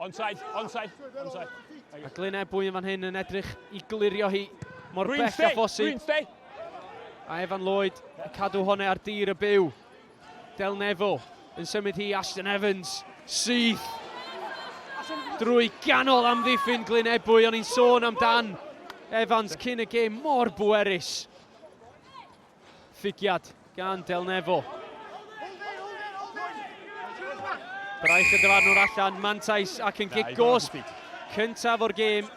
Onside, onside, onside. A Glyn Ebwy yn fan hyn yn edrych i glirio hi mor Green bell a phosib. A Evan Lloyd yn cadw hone ar dir y byw. Del Neville yn symud hi Ashton Evans syth drwy ganol amddiffyn Glyn Ebwy o'n i'n sôn amdan Evans cyn y gêm mor bwerus. Lligiad gan Del Nefo. Braich y dyfarnwr allan, Mantais ac yn gig gosb cyntaf o'r gêm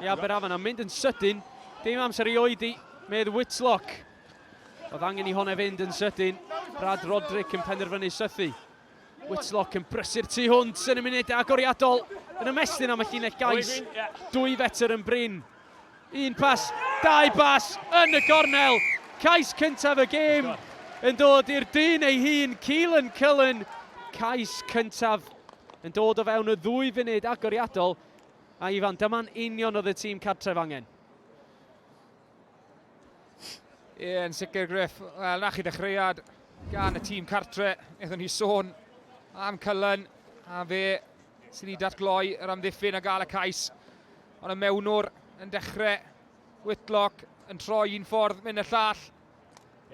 i Aberafan a mynd yn sydyn. Dim amser i oedi, medd Whitlock. Oedd angen i hone fynd yn sydyn. Brad Roderick yn penderfynu sythu. Whitlock yn brysur tu hwnt yn y munud agoriadol yn ymestyn am y llinell gais. Dwy fetr yn brin. Un pas, dau bas yn y gornel. Cais cyntaf y gêm yn dod i'r dyn ei hun, Keelan Cullen. Cais cyntaf yn dod o fewn y ddwy funud agoriadol. A Ifan, dyma'n union oedd y tîm cartref angen. Ie, yn sicr Griff. Wel, na chi ddechreuad gan y tîm cartre. Eithon ni sôn am Cullen a fe sydd wedi datgloi yr amddiffyn a gael y cais. Ond y mewnwr yn dechrau Whitlock yn troi un ffordd, mynd y llall.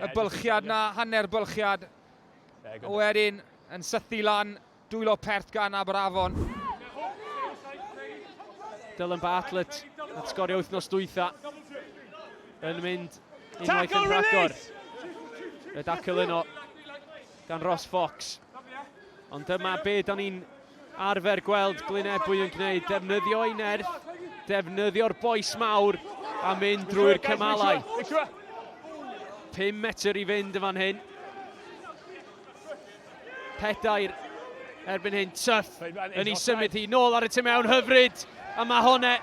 Y bylchiad na, hanner bylchiad. A wedyn yn sythu lan Dwylo pert gan Aberafon. Dylan Bartlett at sgorio wythnos dwytha. Yn mynd unwaith yn rhagor. Y dacl yno gan Ross Fox. Ond dyma be da ni'n arfer gweld Glynebwy yn gwneud. Defnyddio ei nerth, defnyddio'r boes mawr a mynd drwy'r cymalau. 5 metr i fynd yn fan hyn. Pedair erbyn hyn, Tuff yn ei symud hi nôl ar y tu mewn hyfryd, a mae hon e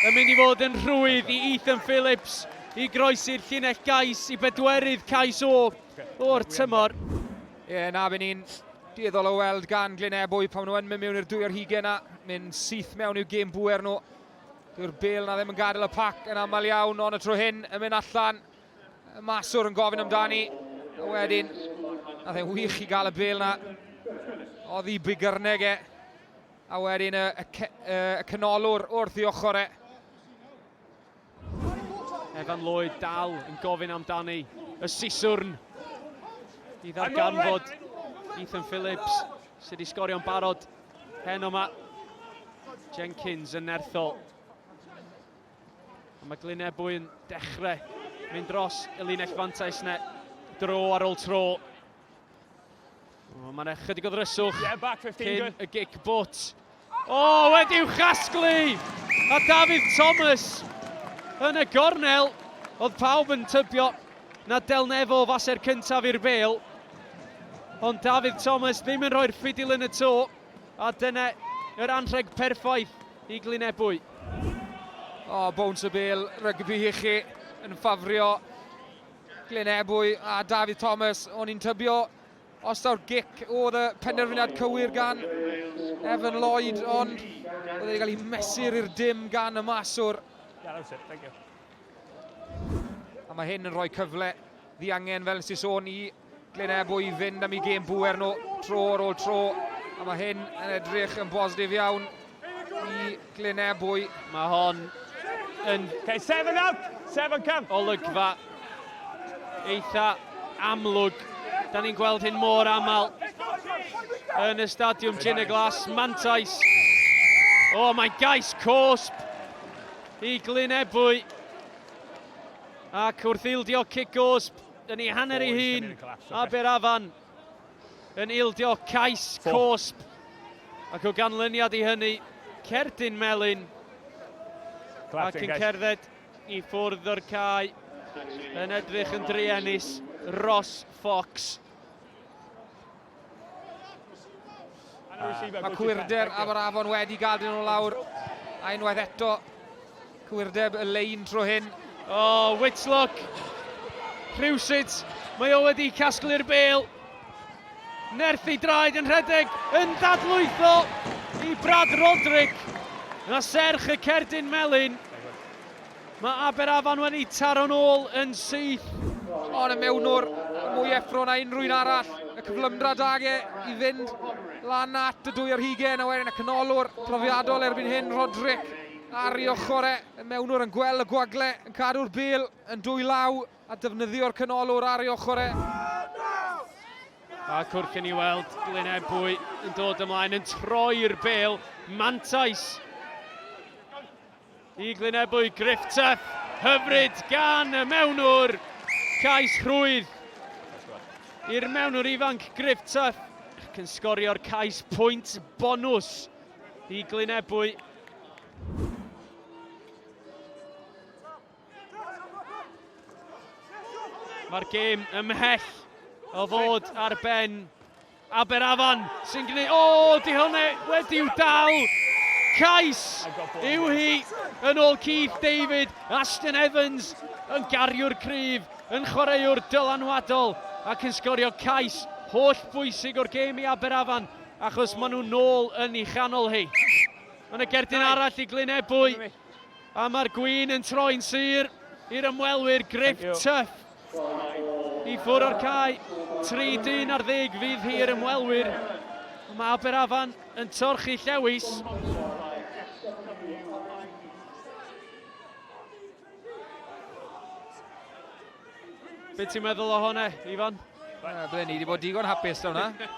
yn mynd i fod yn rhwydd i Ethan Phillips i groesi'r llinell gais i bedwerydd cais o o'r tymor. Ie, yeah, na, fe ni'n dueddol o weld gan Glyn Ebwy pan nhw'n mynd mewn i'r dwy ar hugen a mynd syth mewn i'w gêm bwer nhw. Dyw'r bel na ddim yn gadael y pac yn aml iawn, ond y tro hyn yn mynd allan. Y maswr yn gofyn amdani. A wedyn, a dde'n wych i gael y bel na. Oddi bigyrneg e. A wedyn y, y, y, y canolwr wrth i ochr e. Evan Lloyd dal yn gofyn amdani. Y siswrn i ddarganfod Ethan Phillips sydd wedi sgorio'n barod hen yma. Jenkins yn nerthol. A mae Glyn Ebwy yn dechrau mynd dros y linell fantais yna. Dro ar ôl tro. Mae yna chydig o ddryswch cyn y gic bwt. O, oh, wedi'w chasglu! A Dafydd Thomas yn y gornel. Oedd pawb yn tybio na delnefo faser cyntaf i'r bel. Ond Dafydd Thomas ddim yn rhoi'r ffidil yn y to. A dyna yr anrheg perffaith i Glyn Ebwy. O, oh, bowns y bel rygbi i chi yn ffafrio Glyn Ebwy a David Thomas. O'n i'n tybio os daw'r gic oedd y penderfyniad cywir gan Evan Lloyd, ond oedd wedi cael ei mesur i'r dim gan y maswr. A mae hyn yn rhoi cyfle ddiangen, fel nes i sôn, i Glynebwy i fynd am i gêm bwer nhw tro ar ôl tro. A mae hyn yn edrych yn bositif iawn i Glynebwy. Mae hon yn... Okay, seven out! Seven come! Olygfa eitha amlwg. Da ni'n gweld hyn mor aml yn y stadiwm Gin y Glas, Mantais. O, oh, mae'n gais cosp i Glynebwy. Ac wrth ildio cic gosb, yn ei hanner ei hun, Aberafan yn ildio cais cosb ac o ganlyniad i hynny, cerdyn melyn ac yn cerdded i ffwrdd o'r cae yn edrych yn druenus, Ross Fox. Mae cwyrder am yr afon wedi gadw nhw lawr. A unwaith eto, cwyrdeb y lein tro hyn. O, oh, Whitlock. Rhywsut, mae o wedi casglu'r bel. Nerthu draed yn rhedeg, yn dadlwytho i Brad Roderick. Na serch y cerdyn melyn. Mae Aberafan wedi taro'n ôl yn syth. Hon y mewnwr, mwy effro na unrhyw un arall. Y cyflymdra da ge i fynd lan at y dwy ar hugen, a wedyn y canolwr profiadol erbyn hyn, Roderick, ar ei ochr e. Y mewnwr yn gweld y gwagle, yn cadw'r bel yn dwy law, a defnyddio'r canolwr ar ei ochr e. A cwrc yn ei weld, Glyn Ebwy yn dod ymlaen, yn troi'r bel, mantais. Y glynebwy Griffith hyfryd gan y mewnwr, cais rhwydd i'r mewnwr ifanc Griffith ac yn sgorio'r cais pwynt bonws i glynebwy. Mae'r gêm ymhell o fod ar ben Aberafan sy'n gwneud... O, di hwnna wedi'w dal! Cais yw hi yn ôl Keith David, Ashton Evans yn gariwr cryf, yn chwaraewr dylanwadol ac yn sgorio cais holl bwysig o'r gêm i Aberafan achos maen nhw'n nôl yn ei chanol hi. Mae yna gerdyn arall i Glyn Ebwy a mae'r gwyn yn troi'n sur i'r ymwelwyr Griff Tuff. I ffwr o'r cae, tri dyn ar ddeg fydd hi i'r ymwelwyr. Mae Aberafan yn torchu llewis. Be ti'n meddwl o hwnna, Ifan? Ble ni wedi bod digon hapus da hwnna.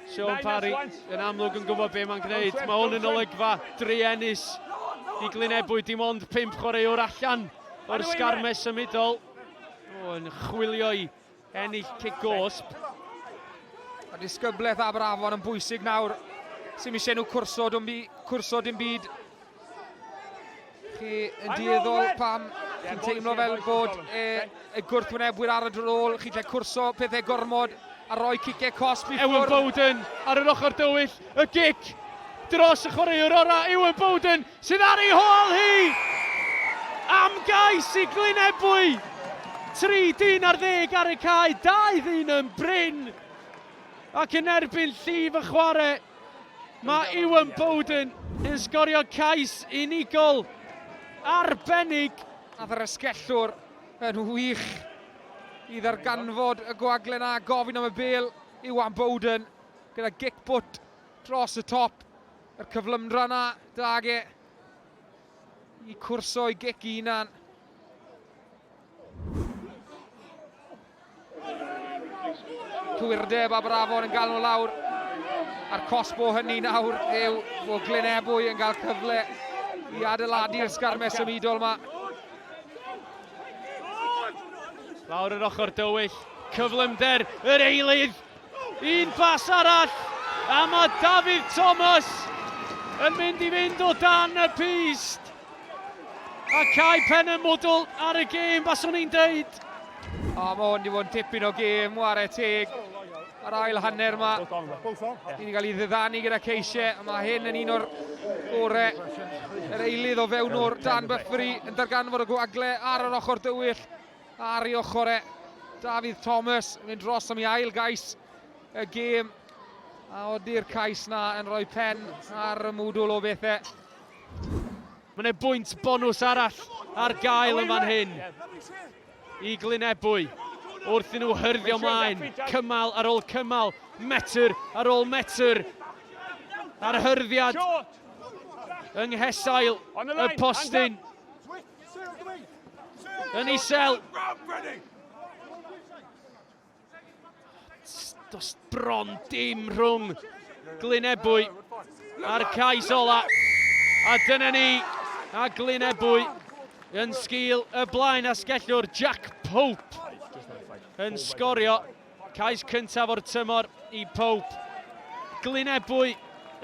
Sean Parry yn amlwg yn gwybod be mae'n gwneud. Mae hwn yn olygfa druenus i Glynebwy. Dim ond pimp chwaraewr allan o'r sgarmes symudol. O, yn chwilio i ennill cic gosb. A disgyblaeth Aberafon yn bwysig nawr. Sy'n eisiau nhw cwrso, dim byd, cwrso dim byd. Chi yn dueddol pam chi'n teimlo fel bod e, y gwrthwynebwyr ar y drôl, chi'n lle cwrso pethau gormod a roi cicau cosb i ffwrdd. Ewan Bowden ar yr ochr dywyll, y gic dros y chwaraewr orau, Ewan Bowden sydd ar ei hôl hi! Am gais i Glynebwy! Tri dyn ar ddeg ar y cae, dau ddyn yn brin ac yn erbyn llif y chwarae. Mae Iwan Bowden yn sgorio cais unigol arbennig. A Ddrysgellwr yn wych i ddarganfod y gwaglen a gofyn am y bel. Iwan Bowden gyda gic bwt dros y top. Yr cyflymdra yna, dag e, i cwrso i gic i hunan. Twyrdeb a Brafon yn galw lawr. A'r cosbo hynny nawr yw bod Glynebwy yn cael cyfle i adeiladu'r sgarmes symudol yma. Lawr yr ochr dywyll, cyflymder yr eilydd Un bas arall a mae Dafydd Thomas yn mynd i fynd o dan y pyst. A cau pen y mwdl ar y gêm, baswn i'n deud. O, mae hwn wedi bod yn tipyn o gêm, ware teg. Yr ail hanner yma, ni wedi cael ei ddyddanu gyda ceisiau, a mae hyn yn un o'r gorau. Yr eilydd o fewn o'r Dan Bythbury yn darganfod y gwagle ar yr ochr dywyll. Ar ei ochr e, Dafydd Thomas yn mynd dros am ei ail gais y gêm. A odi'r cais na yn rhoi pen ar y mwdwl o bethau. Mae yna bwynt bonus arall ar gael yn fan hyn i Glynebwy wrth i nhw hyrddio mlaen, cymal ar ôl cymal, metr ar ôl metr. A'r hyrddiad yng nghesail y postyn. Yn isel. Dos bron dim rhwng Glynebwy a'r cais ola. A dyna ni, a Glynebwy yn sgil y blaen asgellwr Jack Pope yn sgorio Cais cyntaf o'r tymor i Pope. Glyn Ebwy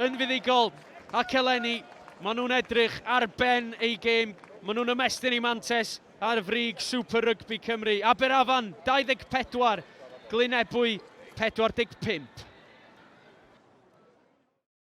yn fuddugol ac eleni maen nhw'n edrych ar ben eu gêm. Maen nhw'n ymestyn i Mantes ar frig Super Rygbi Cymru. Aberafan 24, Glyn Ebwy 45.